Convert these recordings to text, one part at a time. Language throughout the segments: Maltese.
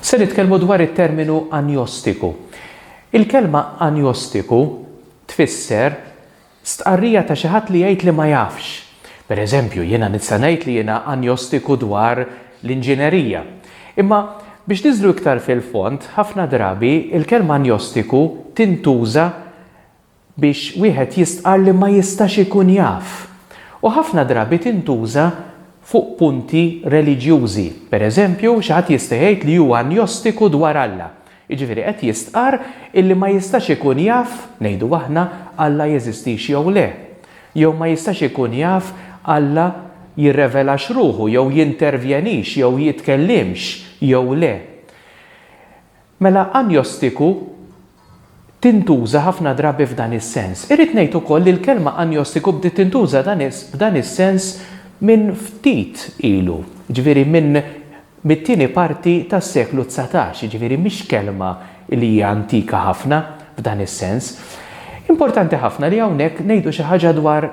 Se nitkellmu dwar it-terminu anjostiku. Il-kelma anjostiku tfisser stqarrija ta' xi ħadd li jgħid li ma jafx. Pereżempju, jiena nista' ngħid li jiena anjostiku dwar l-inġinerija. Imma biex niżlu iktar fil-fond, ħafna drabi il-kelma anjostiku tintuża biex wieħed jistqarr li ma jistax ikun jaf, u ħafna drabi tintuża fuq punti reliġjużi. Pereżempju, xi ħadd jista' jgħid li hu anjostiku dwar Alla, jiġifieri qed jistqarr illi ma jistax ikun jaf, ngħidu aħna, Alla jeżistix jew le, jew ma jistax ikun jaf Alla jirrevelax ruħu jew jintervjenix jew jitkellimx jew le. Mela anjostiku tintuża ħafna drabi f'dan is-sens. Irrid ngħid ukoll li l-kelma anjostiku bdiet tintuża dan f'dan is-sens minn ftit ilu, jiġifieri minn mit-tieni parti tas-seklu dsatax, jiġifieri mhix kelma li hija antika ħafna f'dan is-sens. Importanti ħafna li hawnhekk ngħidu xi ħaġa dwar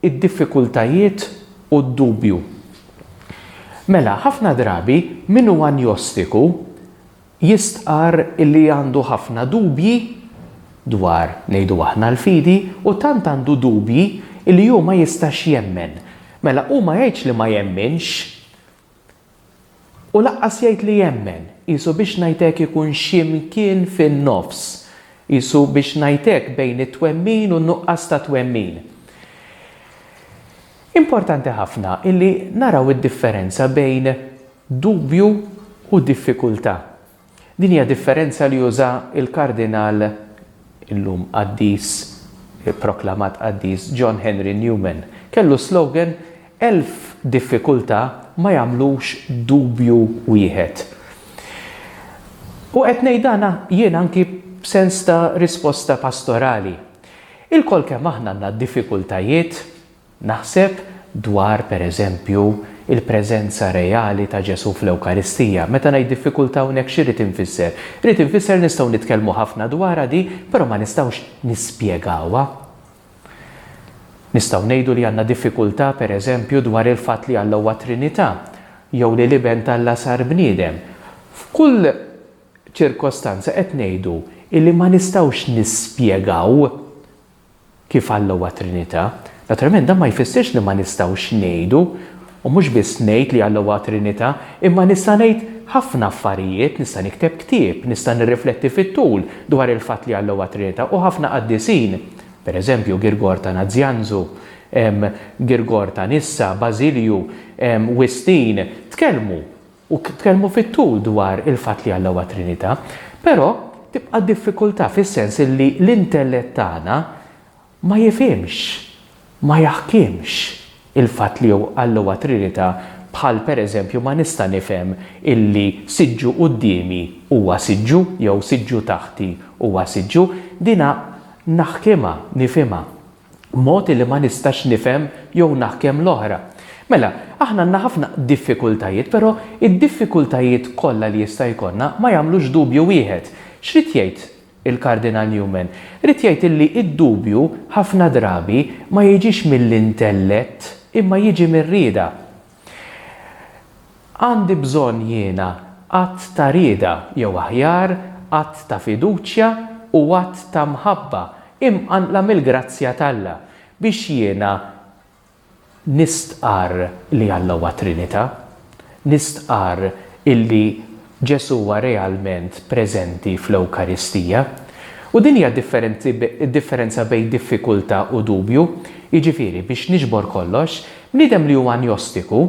id-diffikultajiet u d-dubju. Mela, ħafna drabi min hu anjostiku jistqarr li għandu ħafna dubji dwar, ngħidu aħna, l-fidi u tant għandu dubji li hu ma jistax jemmen. Mela, hu ma jgħidx li ma jemminx, U laqqas jgħid li jemmen. Qisu biex ngħid hekk ikun xi mkien fin-nofs. Qisu biex ngħid hekk bejn it-twemmin u n-nuqqas ta' twemmin. Importanti ħafna illi naraw id-differenza bejn dubju u diffikultà. Din hija differenza li uża l-Kardinal, illum qaddis, ipproklamat qaddis, John Henry Newman. Kellu s-slogan, Elf diffikultà ma jagħmlux dubju wieħed. U qed ngħid dan jien anki b'sens ta' risposta pastorali. Ilkoll kemm aħna għandna diffikultajiet, Naħseb dwar, per eżempju, il-preżenza reali ta' Ġesù fl-Ewkaristija. Meta ngħid diffikultà hawnhekk x'irrid infisser? Irrid infisser nistgħu nitkellmu ħafna dwarha di, però ma nistgħux nispjegawha. Nistgħu ngħidu li għandna diffikultà, per eżempju, dwar il-fatt li Alla huwa Trinità, jew li l-Iben t'Alla sar bniedem. F'kull ċirkostanza qed ngħidu illi ma nistgħux nispjegaw kif Alla huwa Trinità. Naturalment dan ma jfissirx li ma nistgħux ngħidu, u mhux biss ngħid li Alla huwa Trinità, imma nista' ngħid ħafna affarijiet, nista' nikteb ktieb, nista' nirrifletti fit-tul dwar il-fatt li Alla huwa Trinità u ħafna qaddisin, per eżempju Girgor ta' Nazianzu, Girgor ta' Nissa, Bażilju, Wistin, tkellmu u tkellmu fit-tul dwar il-fatt li Alla huwa Trinità, però tibqa' diffikultà fis-sens illi l-intellett tagħna ma jifhimx, ma jaħkimx il-fatt li Alla huwa Trinità bħal pereżempju ma nista' nifhem illi siġġu quddiemi huwa siġġu jew siġġu taħti huwa siġġu, dinha naħkimha, nifhimha. B'mod li ma nistax nifhem jew naħkem l-oħra. Mela, aħna għandna ħafna diffikultajiet, però d-diffikultajiet kollha li jista' jkollna ma jagħmlux dubju wieħed. X'ried jgħid il-Kardinal Newman? Ried jgħid illi d-dubju ħafna drabi ma jiġix mill-intellett imma jiġi mir-rieda. Għandi bżonn jiena att ta' rieda, jew aħjar, att ta' fiduċja u att ta' mħabba imqanqla mill-grazzja t'Alla biex jiena nistqarr li Alla huwa Trinità, nistqarr illi Ġesù huwa realment preżenti fl-Ewkaristija. U din hija d-differenza bejn diffikultà u dubju. Jiġifieri, biex niġbor kollox, bniedem li hu anjostiku,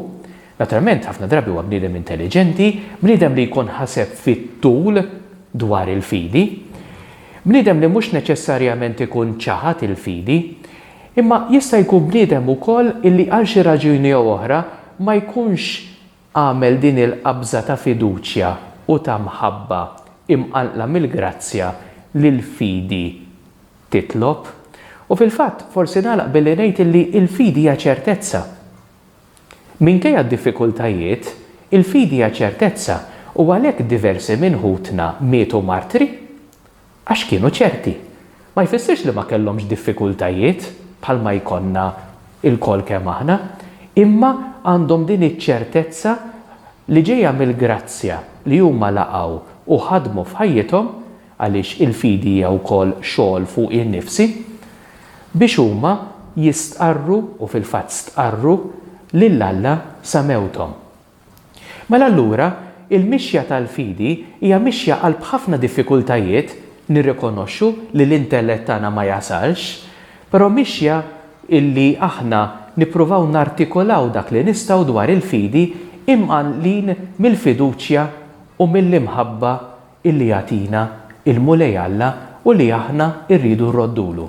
naturalment ħafna drabi huwa bniedem intelliġenti, bniedem li jkun ħaseb fit-tul dwar il-fidi, bniedem li mhux neċessarjament ikun ċaħad il-fidi, imma jista' jkun bniedem ukoll illi għal xi raġuni jew oħra ma jkunx Agħmel din il-qabża ta' fiduċja u ta' mħabba imqanqla mill-grazzja li l-fidi titlob. U fil-fatt, forsi nagħlaq billi ngħid illi l-fidi hija ċertezza. Minkejja d-diffikultajiet, il-fidi hija ċertezza u għalhekk diversi minn ħutna mietu martri. Għax kienu ċerti. Ma jfissirx li ma kellhomx diffikultajiet bħalma jkollna lkoll kemm aħna, imma għandhom din iċ-ċertezza li ġejja mill-grazzja li huma laqgħu u ħadmu f'ħajjithom, għaliex il-fidi hija wkoll xogħol fuqi nnifsi, biex huma jistqarru, u fil-fatt stqarru, lil Alla sa mewthom. Mela allura, il-mixja tal-fidi hija mixja qalb ħafna diffikultajiet, nirrikonoxxu li l-intellett tagħna ma jasalx, però mixja illi aħna nippruvaw nartikolaw dak li nistgħu dwar il-fidi imqanqlin mill-fiduċja u mill-imħabba illi jagħtina il-Mulej Alla u li aħna rridu nroddulu.